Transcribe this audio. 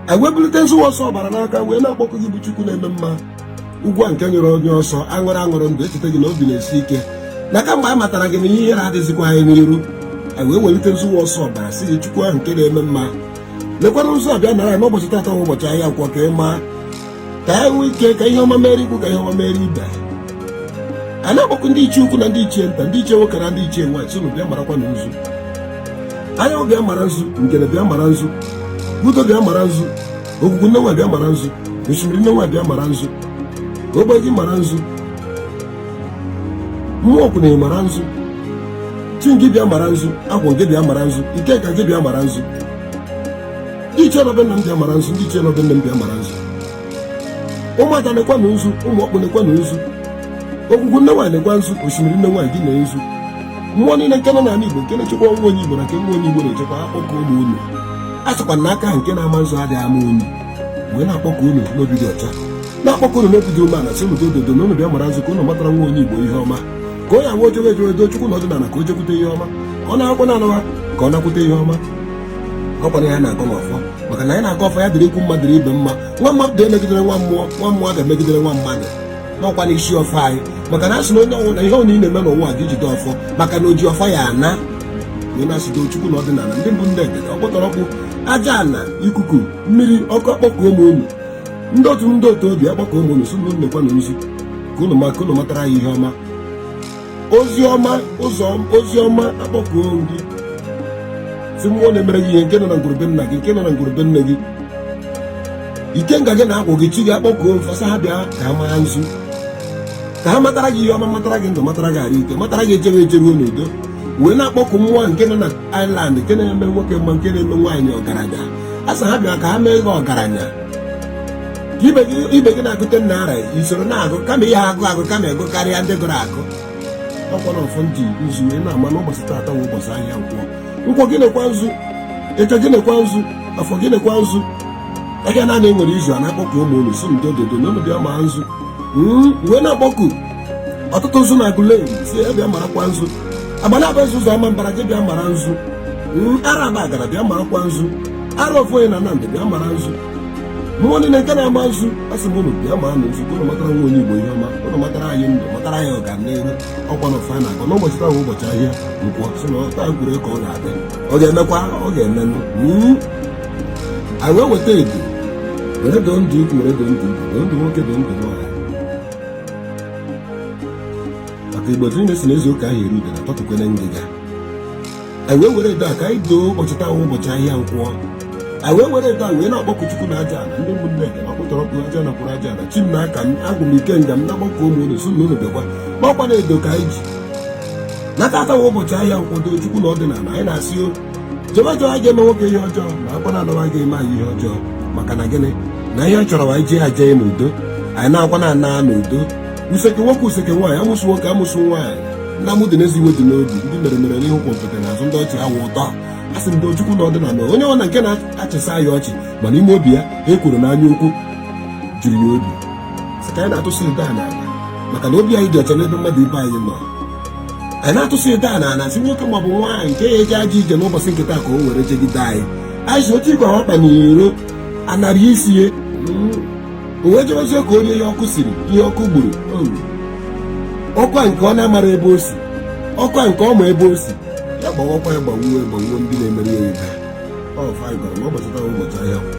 anyị wee bulite nzu nwa ọsọ ọbara n'aka wee na-akpọku gị bụ chukwu na-eme mma ugwu a nke nyere onye ọsọ aṅụrụ aṅụrụ ndụ echeta gị na obi na-esi ike na kamgbe anyị matara gị na ihe ihere adịzikwa anyị n'iru anyị wee welite nzu nwa ọsọ ọbara sị gị chukwu ahụ nke na-eme mma lekwana nzu a bịa nara n'ụbọchị taata ụbọchị ahịa nkwọ ka ị maa ka ha nwee ike ka ihe ọma meere ikwu ka ihe ọma meere ibe a na-akpọku ndị ichie ukwu na ndị ichie nta ndị ichie nwoke na ndị ichie nwaanyị sị unu bịa marakwa na nzu anyanwụ bịa mara nzu ngene bịa mara nzu udo bịa mara nzu ogwugwu nne nwa bịa mara nzu osimiri nne nwa bịa mara nzu ogbe gị mara nzu mmụọ ọkwụ na mara nzu chi gị bịa mara nzu agwụ gị bịa mara nzu ikenga gị bịa mara nzu ndị ichie nọ be nna m bịa mara nzu ndị ichie nọ be nne m bịa mara nzu ụmụada nekwanụ nzu ụmụ ọkpụ nekwanụ nzu ogwugwu nne nwaanyị nekwa nzu osimiri nne nwaanyị dị na nzu mmụọ niile nke nọ n'ala igbo nke na-echekwa nwa onye igbo na nke nwa onye igbo na-echekwa akpọkuo m unu a sịkwa na aka nke na-ama nzu adịghị ama unyi wee na-akpọku unu n'obi dị ọcha na-akpọku unu n'obi dị umeala sị unu dododo na unu bịa mara nzu ka unu matara nwa onye igbo ihe ọma ka onye awa o jewe ejewe do chukwu na ọdịnala ka o jekwute ihe ọma ka ọ na-akwụkwọ na-anawa ka ọ nakwute ihe ọma ọ kwa na ya na-agọ n'ọfọ maka na ya na-agọ ọfọ ya dịrị ikwu mma dịrị ibe mma nwa mmadụ emegidene nwa mmụọ nwa mmụọ emegidene nwa mmadụ n'ọkwa n'isi ọfọ anyị maka na a sị na onye ọbụla ihe ọbụla ị na-eme n'ụwa gị jide ọfọ maka na oji ọfọ ya ana anyị na-asị do chukwu na ọdịnala ndị mbụ ndị egede ọkpụtọrọ ọkpụ aja ala ikuku mmiri ọkụ akpọkuo m unu ndị otu ndị otu obi akpọkuo m unu sị unu nekwanụ nzu ka unu maa ka unu matara ya ihe ọma oziọma ụzọ oziọma akpọkuo m gị sị mmụọ na-emere gị ihe nke nọ na ngwuru be nna gị nke nọ na ngwuru be nne gị ikenga gị na agwụ gị chi gị akpọkuo m fa sị ha bịa ka ha mara nzu ka ha matara gị ihe ọma matara gị ndụ matara gị arụ ike matara gị ejere ejeruo n'udo wee na-akpọku mmụọ nke nọ na Ireland nke na-eme nwoke mma nke na-eme nwaanyị ọgaranya a sị ha bịa ka ha mee gị ọgaranya ibe gị na-agụte nna ara i soro na-agụ kama ihe agụ agụ kama ego karịa ndị gụrụ agụ ọ kwa ọfọ nzu anyị na-ama n'ụbọchị taata nwe ụbọchị ahịa nkwọ nkwọ gị nekwa nzu eke gị nekwa nzu afọ gị nekwa nzu ahịa naanọ e nwere izu anọ akpọkuo m unu sị unu dododo na unu bịa maa nzu hmm, wee na-akpọku otutu nzu na aguleri sị ya bịa marakwa nzu agbanabọ ezu na ọmambala gị bịa mara nzu hmm, ala abagana bịa marakwa nzu ala ofu onye na Nnamdị bịa mara nzu mmụọ niile nke na-ama nzu asị m unu bịa maa nzu unu matara nwa onye igbo ihe ọma unu matara anyị ndụ matara anyị ọganihu ọ kwa na ọfọ anyị na-agọ n'ụbọchị taa ụbọchị ahịa nkwọ sị na otu e kwuru ka ọ ga-adị ọ ga-emekwa ọ ga-emenụ hmm? anyị wee weta edo were doo ndụ ikwu were doo ndụ ikwu ndụ nwoke doo ndụ nwaanyị maka igbo niile sị na e zuo ka a ha eri udene a tọtụkwanụ ngịga anyị wee were edo a ka anyị doo ụbọchị taa wụ ụbọchị ahịa nkwọ anyị wee were edo a wee na-akpọkụ chukwu na aja ala ndị ụmụnne gị na ọkpụtọrọkpụ aja na kwụrụ aja ala chi m na aka m agwụ m ikenga m na gbakọ ụmụ unu so na unu bịakwa makwa na edo ka anyị ji n'aka taa wụ ụbọchị ahịa nkwọ doo chukwu na ọdịnala anyị na-asị o jehova jọ anyị ga-eme nwoke ihe ọjọọ na akwa na anawa ga-eme anyị ihe ọjọọ maka na gịnị na ihe ọ chọrọ anyị jee aja ya n'udo anyị na-akwa na ana n'udo useke nwoke useke nwaanyị amụsụ nwoke amụsụ nwaanyị mma dị n'ezi iwe dị n'obi ndị mere mere n'ihu gwompiti n'azụ ndị ọchị awụ ụtọ a sị m ndị chukwu na ọdịnala onye ọbụna nke na-achịsa ya ọchị ma n'ime obi ya ekworo na anya ukwu juru ya obi sị ka anyị na-atụsị ụda a n'ala maka na obi anyị dị ọcha n'ebe mmadụ ibe anyị nọ anyị na-atụsị ụda a n'ala sị nwoke maọbụ nwaanyị nke ya eje aja ije n'ụbọchị nke taa ka o were jegide anyị anyị si otu igwe ọkpa n'iro anara isi ya o wee chọrọzie ka onye ya ọkụ siri ihe ọkụ gburu ọkwa nke ọ na-amara ebe o si ọkwa nke ọ ma ebe o si ya gbawakwa ya gbawuo gbawuo ndị na-emere ya ibe ọ fa gwara na ọ gbachata ụbọchị ahịa